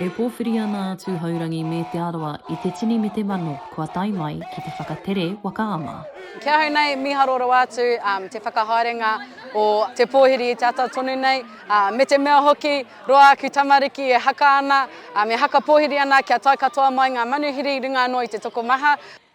E pōwhiri ana a Tūhourangi me Te Arawa i te tini me te mano kua tae mai ki te whakatere waka ama. Ki ahau nei, mīharo rawa atu te whakahaerenga o te pōhiri i te ata tonu nei, me te mea hoki, roa aku tamariki e haka ana, e haka pōhiri ana kia tae katoa mai ngā manuhiri i runga anō i te tokomaha.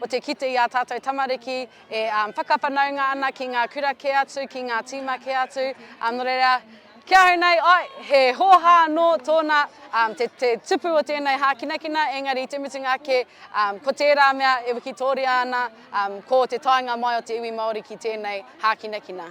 o te kite i ā tātou tamariki e whakawhanaunga ana ki ngā kura kē atu, ki ngā tīma kē atu, nō reira, ki ahau nei, āe, he hōhā anō tōna, te, te tupu o tēnei hākinakina, engari i te mutunga ake, ko tērā mea e wikitōria ana, ko te taenga mai o te iwi Māori ki tēnei hākinakina.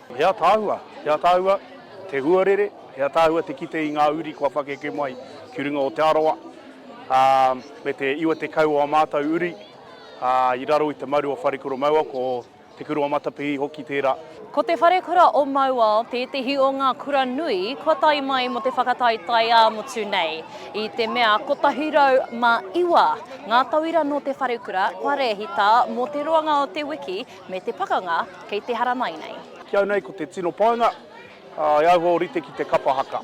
He ataahua, he ataahua te huarere, he ataahua te kite i ngā uri kua pakeke mai ki runga o Te Arawa, ā, me te 90 o ā mātou uri, ā, i raro i te maru o Wharekura Mauao, ko Te Kura o Matapihi hoki tērā. Ko Te Wharekura o Mauao tētehi o ngā kura nui kua tae mai mō te whakataetae ā-motu nei, i te mea 109 ngā tauira nō te wharekura kua rēhita mō te roanga o te wiki, Me te pakanga kei te haramai nei. Ki au nei ko te tino painga, e auho rite ki te kapa haka.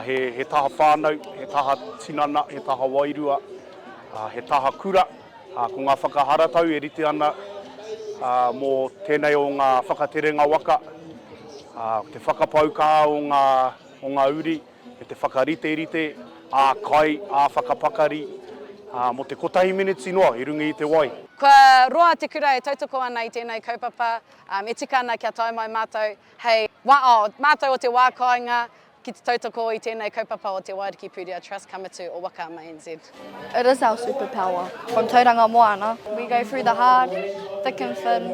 He taha whānau, he taha tinana, he taha wairua, he taha kura. Ko ngā whakaharatau e rite ana mō tēnei o ngā whakaterenga waka, te whakapau kaha o ngā uri. me te whakariterite ā-kai, ā-whakapakari, ā, mō te kotahi meneti noa i runga i te wai. Kua roa te kura e tautoko ana i tēnei kaupapa, ā, me tika ana kia tae mai mātou hei wao mātou o te wā kāinga ki te tautoko i tēnei kaupapa o te Waiariki Pūtea Trust ka mutu o Waka ama NZ. It is our super power from Tauranga Moana we go through the hard, thick and thin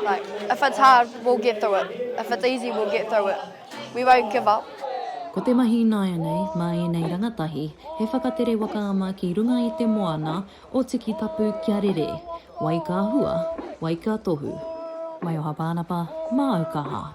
like if it's hard we'll get through it if it's easy we'll get through it we won't give up. Ko te mahi ināianei mā ēnei rangatahi he whakatere waka ama ki runga i te moana o Tikitapu kia rere, wai ka hua, wai ka tohu. Maioha Pānapa, Māu Kaha.